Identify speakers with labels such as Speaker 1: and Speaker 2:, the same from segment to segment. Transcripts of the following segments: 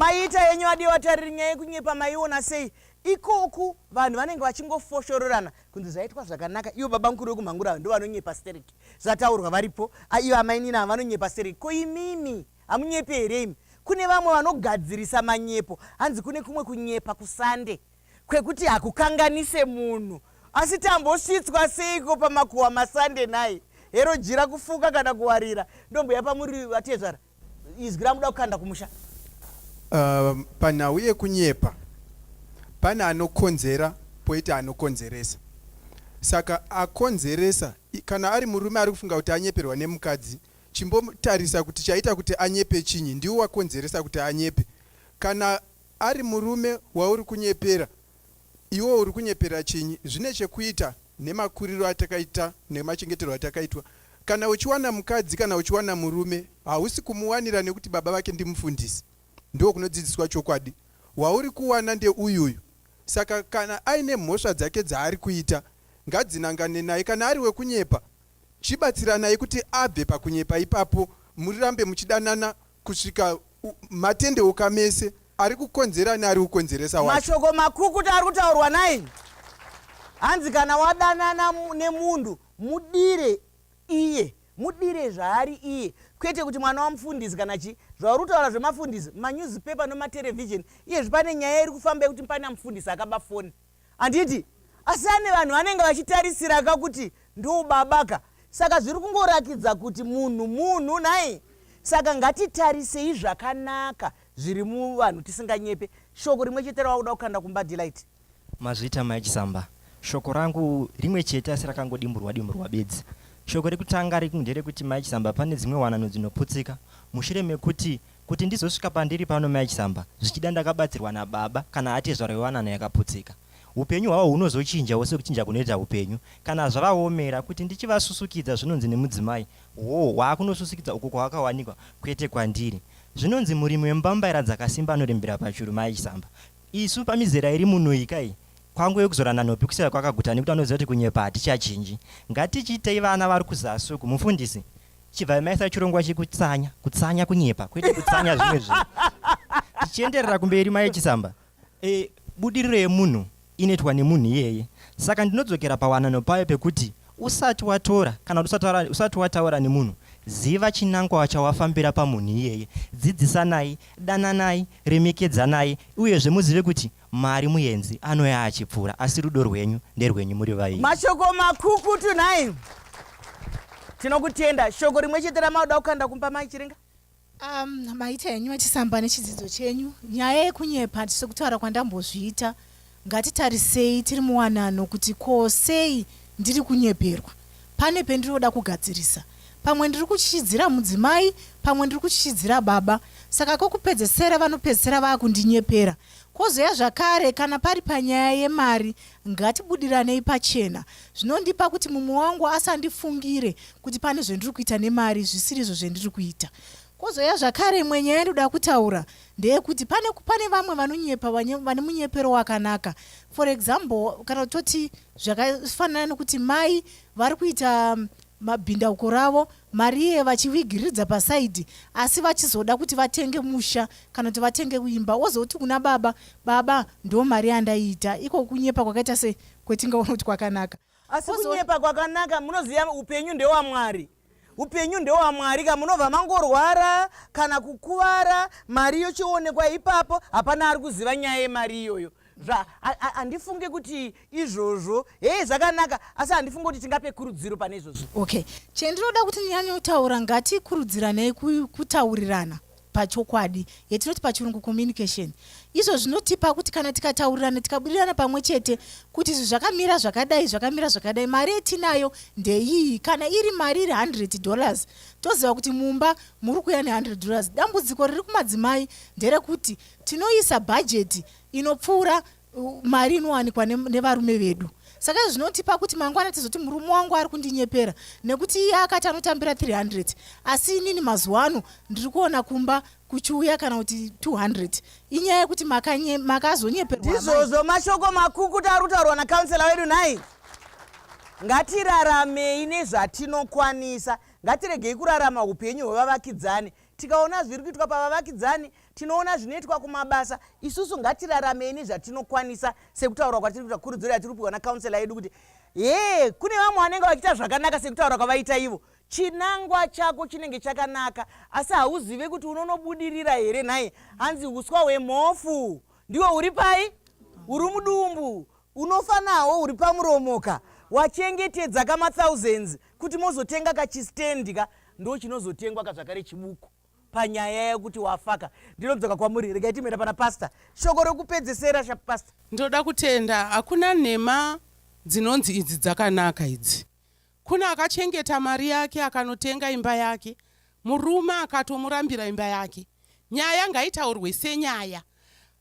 Speaker 1: maiita yenyu adii watariri nyaya yekunyepa maiona sei ikoku vanhu vanenge vachingofoshororana kunzi zvaitwa zvakanaka ivo baba mukuru vekumhangura ndo vanonyepa sterek zvataurwa varipo ivo amainini ava vanonyepa sterek ko imimi hamunyepi here imi kune vamwe vanogadzirisa manyepo hanzi kune kumwe kunyepa kusande kwekuti hakukanganise munhu asi tambosvitswa seiko pamakuhwa masande nhai hero jira kufuka kana kuwarira ndombuya pamuri vatezvara izwi ramuda kukanda kumusha uh, panhau
Speaker 2: yekunyepa pane anokonzera poita anokonzeresa saka akonzeresa kana ari murume ari kufunga kuti anyeperwa nemukadzi chimbotarisa kuti chaita kuti anyepe chinyi ndiwo wakonzeresa kuti anyepe kana Ari murume wauri kunyepera iwe uri kunyepera chinyi zvine chekuita nemakuriro atakaita nemachengeterwo atakaitwa kana uchiwana mukadzi kana uchiwana murume hausi kumuwanira nekuti baba vake ndimufundisi ndoo kunodzidziswa chokwadi wauri kuwana ndeuyuyu saka kana aine mhosva dzake dzaari kuita ngadzinangane naye kana ari wekunyepa chibatsiranai kuti abve pakunyepa ipapo murirambe muchidanana kusvika matendeuka mese ari kukonzera neari kukonzeresa wacho mashoko makukuta ari
Speaker 1: kutaurwa naini hanzi kana wadanana nemunhu mudire iye mudire zvaari iye kwete kuti mwana wamufundisi kana chii zvauri kutaura zvemafundisi manewspaper nomaterevhizheni iyezvi pane nyaya iri kufamba yekuti pane amufundisi akaba foni handiti asi ane vanhu vanenge vachitarisira ka kuti ndobaba ka saka zviri kungorakidza kuti munhu munhu nhai saka ngatitarisei zvakanaka zviri muvanhu tisinganyepe shoko rimwe chete rawakuda kukanda kumba delight mazvita mai
Speaker 3: chisamba shoko rangu rimwe chete asi rakangodimburwa dimburwa bedzi shoko rekutanga rekunderekuti mai chisamba pane dzimwe wanano dzinoputsika mushure mekuti Kuti ndizosvika pandiri pano mai Chisamba, zvichida ndakabatsirwa nababa kana atezvara wewanano yakaputsika. Hupenyu hwavo hunozochinjawo sekuchinja kunoita hupenyu kana zvavaomera. Kuti ndichivasusukidza zvinonzi nemudzimai, hoo waakunosusukidza uko kwawakawanikwa kwete kwandiri. Zvinonzi murimi wembambaira dzakasimba anorembera pachuru mai Chisamba. Isu pamizera iri munoika iyi kwangove kuzorana nhopi kuseva kwakaguta nekuti vanoziva kuti kunyepa hatichachinji. Ngatichiitei vana vari kuzasi uku mufundisi? chibvai maisa chirongwa chekutsanya kutsanya kunyepa kwete kutsanya zvimwe zvinhu tichienderera kumberi mai chisamba e, budiriro yemunhu inoitwa nemunhu iyeye saka ndinodzokera pawanano payo pekuti usati watora kana kuti usati wataura nemunhu ziva chinangwa chawafambira pamunhu iyeye dzidzisanai dananai remekedzanai uyezve muzive kuti Mwari muyenzi anouya achipfuura asi rudo rwenyu nderwenyu muri vaimbi. Mashoko makukutu
Speaker 1: nhai. Tinokutenda. Shoko rimwe chete ramauda kukanda kumba mai Chiringa? Um,
Speaker 4: maita henyu vachisamba nechidzidzo chenyu nyaya yekunyepa sekutaura kwandambozviita ngatitarisei tiri muwanano kuti ko sei ndiri kunyeperwa pane pendinoda kugadzirisa pamwe ndiri kuchichidzira mudzimai pamwe ndiri kuchichidzira baba saka kokupedzesera vanopedzesera vaakundinyepera Kwozouya zvakare kana pari panyaya yemari ngatibudiranei pachena. Zvinondipa kuti mumwe wangu asandifungire kuti pane zvendiri kuita nemari zvisirizvo zvendiri kuita. Kwozouya zvakare imwe nyaya yandinoda kutaura ndeyekuti pane, pane vamwe vanonyepa vane munyepero wakanaka. For example kana toti zvakafanana nekuti mai vari kuita mabhindauko ravo Marie vachivigiridza paside asi vachizoda kuti vatenge musha kana kuti vatenge kuimba wozoti kuna baba baba ndo mari yandaiita iko kunyepa kwakaita se kwetingaona kuti kwakanaka asi kunyepa
Speaker 1: kwakanaka munoziva upenyu ndewamwari upenyu ndewamwari ka munobva mangorwara kana kukuvara mari yochionekwa ipapo hapana ari kuziva nyaya yemari iyoyo zva handifunge kuti izvozvo hei zvakanaka asi handifunge kuti tingape kurudziro pane izvozvo okay chendinoda
Speaker 4: kuti nyanyotaura ngatikurudziranei kutaurirana pachokwadi yatinoti pachirungu communication izvo zvinotipa kuti kana tikataurirana tikabudirana pamwe chete kuti izvi zvakamira zvakadai zvakamira zvakadai mari yetinayo ndeiyi kana iri mari iri 100 dollars toziva kuti mumba muri kuya ne100 dollars dambudziko riri kumadzimai nderekuti Tinoisa bhajeti inopfuura mari inowanikwa nevarume vedu saka izvi zvinotipa kuti mangwana tizoti murume wangu ari kundinyepera nekuti iye akati anotambira 300 asi inini mazuva ano ndiri kuona kumba kuchiuya kana kuti 200 inyaya yekuti makazonyeperwa ndizvozvo mashoko
Speaker 1: makukuta ari kutaurwa nacouncela wedu nhai ngatiraramei nezvatinokwanisa ngatiregei kurarama upenyu hwevavakidzani Tikaona zviri kuitwa pavavakidzani, tinoona zvinoitwa kumabasa. Isusu ngatiraramei nezvatinokwanisa sekutaura kwatiri kuita kurudziro yatiri kupihwa nakaunselor yedu kuti hee kune vamwe vanenge vachiita zvakanaka sekutaura kwavaita ivo. Chinangwa chako chinenge chakanaka asi hauzive kuti unonobudirira here nhai hanzi uswa hwemhofu ndiwo uri pai uri mudumbu Unofa nawo uri pamuromo ka. Wachengetedza ka ma thousands kuti mozotenga ka chi stand ka ndo chinozotengwa ka zvakare chibuku panyaya yekuti wafa ka. Ndinodzoka kwamuri regai timboenda pana pastor. Shoko rokupedzesera sha pastor. Ndoda kutenda
Speaker 5: hakuna nhema dzinonzi idzi dzakanaka idzi Kune akachengeta mari yake akanotenga imba yake murume akatomurambira imba yake. Nyaya ngaitaurwe senyaya.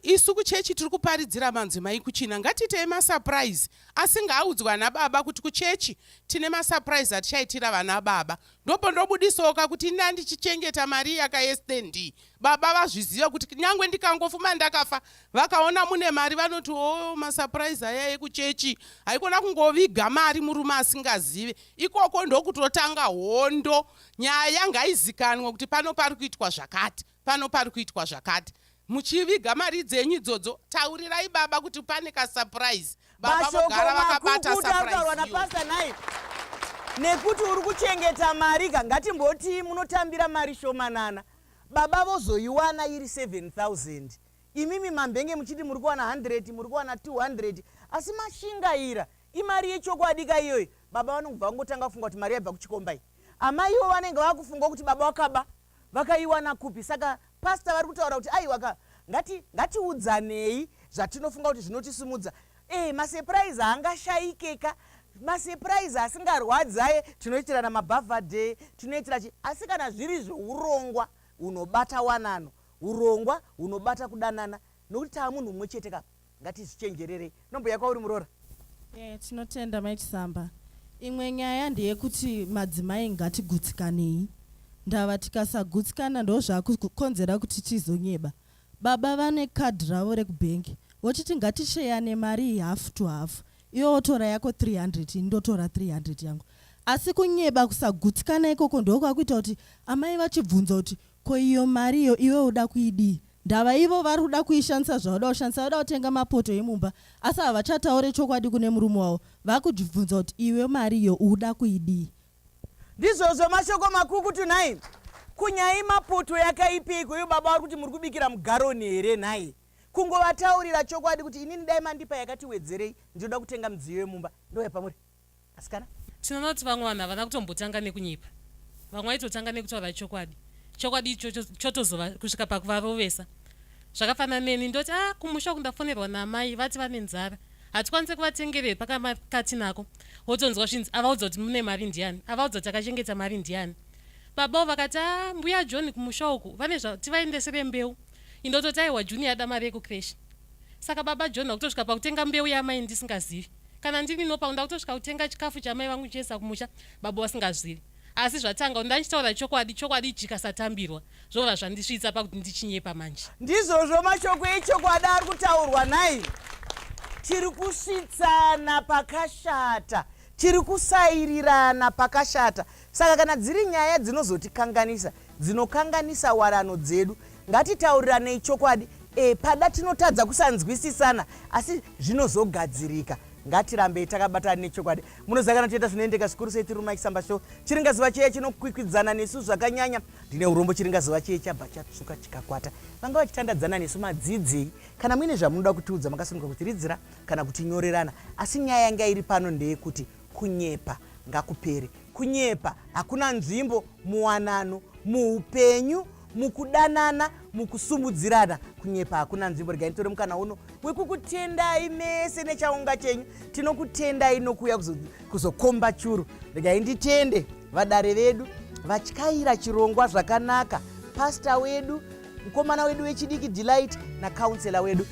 Speaker 5: Isu kuchechi tiri kuparidzira manzimai kuchina ngatiitei masurprise asi ngaaudzwe ana baba kuti kuchechi tine masurprise atichaitira vana baba. Ndopondobudisoka kuti inda ndichichengeta mari yakaestnd baba vazviziva kuti nyangwe ndikangofuma ndakafa vakaona mune mari vanoti o oh, masapuraizi aya ekuchechi haikona kungoviga mari murume asingazive ikoko ndokutotanga hondo nyaya yanga haizikanwa kuti pano pari kuitwa zvakati pano pari kuitwa zvakati muchiviga mari dzenyu idzodzo taurirai baba kuti pane kasapuraizi baba vogara vakabata sapuraizi
Speaker 1: nekuti uri kuchengeta mari ka ngatimbotii munotambira mari shomanana Baba vozoiwana iri 7000 imimi mambenge muchiti muri kuwana 100 muri kuwana 200 asi mashingaira imari yechokwadi ka iyoyo baba vanobva vangotanga kufunga kuti mari yaibva kuchikomba iyi amai ivo vanenge vakufunga kuti baba wakaba vakaiwana kupi saka pasta vari kutaura kuti aiwaka ngati ngatiudzanei zvatinofunga kuti zvinotisimudza Eh, masurprise haangashaikeka masurprise asingarwadzi aye tinoitirana mabhavhadhe tinoitira chi asi kana zviri zvourongwa hunobata wanano urongwa hunobata kudanana nokuti taa munhu mumwe chete ka ngatizvichenjererei nomboya kwauri muroora e, tinotenda
Speaker 6: mai chisamba imwe nyaya ndeyekuti madzimai ngatigutsikanei ndava tikasagutsikana ndozvakukonzera kuti tizonyeba Baba vane card ravo rekubank vochiti ngatisheane mari iyi half to half iwe wotora yako 300 ini ndotora 300 yangu asi kunyeba kusagutsikana ikoko ndokwakuita kuti amai vachibvunza kuti ko iyo mari iyo iwe uda kuidii ndava ivo vari kuda kuishandisa zvauda kushandisa vada kutenga mapoto emumba asi havachataure chokwadi kune murume wavo vakujibvunza kuti iwe mari iyo uda kuidii Ndizvozvo
Speaker 1: mashoko makukutu nhai. Kunyai maputu yakaipiko uyu baba vari kuti muri kubikira mugaroni here nhai. Kungovataurira chokwadi kuti inini dai mandipa yakati wedzerei ndinoda kutenga midziyo yemumba ndouya pamuri. Asikana. Tinoona kuti vamwe
Speaker 7: vanhu havana kutombotanga nekunyepa. Vamwe vaitotanga nekutaura chokwadi. Chokwadi ichocho chotozova kusvika pakuvarovesa. Zvakafanana neni ndoti ah kumusha kundafonerwa naamai vati vane nzara. hatikwanise kuvatengerei pakamati nako wotonzwa zvinzi avaudza kuti mune mari ndiani avaudza kuti akachengeta mari ndiani babao vakati a mbuya john kumusha uku vane zvativaendesere mbeu indototaiwa juni yada mari yekukreshi saka baba john vakutosvika pakutenga mbeu yamai ndisingazivi kana ndiri nopauda kutosvika kutenga chikafu chamai vangu chese kumusha baba vasingazivi Asi zvatanga unda ndichitaura chokwadi chokwadi chikasatambirwa zvova zvandisvitsa pakuti ndichinyepa manje. Ndizvozvo mashoko
Speaker 1: echokwadi ari kutaurwa nhai. Tiri kusvitsana pakashata tiri kusairirana pakashata saka kana dziri nyaya dzinozotikanganisa dzinokanganisa warano dzedu ngatitauriranei chokwadi e, pada tinotadza kusanzwisisana asi zvinozogadzirika ngatirambei takabatana nechokwadi munoziva kana tichita zvinoendeka zvikuru sei tiri mumaisamba show chiringaziva cheya chinokwikwidzana nesu zvakanyanya ndine urombo chiringaziva cheya chabva chatsvuka chikakwata vanga vachitandadzana nesu madzidzei kana muine zvamunoda kutiudza makasununguka kutiridzira kana kutinyorerana asi nyaya yanga iri pano ndeyekuti kunyepa ngakupere kunyepa hakuna nzvimbo muwanano muupenyu mukudanana mukusumudzirana kunyepa hakuna nzvimbo regai nditore mukana uno wekukutendai mese nechaunga chenyu tinokutendai nokuuya kuzokomba churu regai nditende vadare vedu vatyaira chirongwa zvakanaka pasta wedu mukomana wedu wechidiki delight nacounsela wedu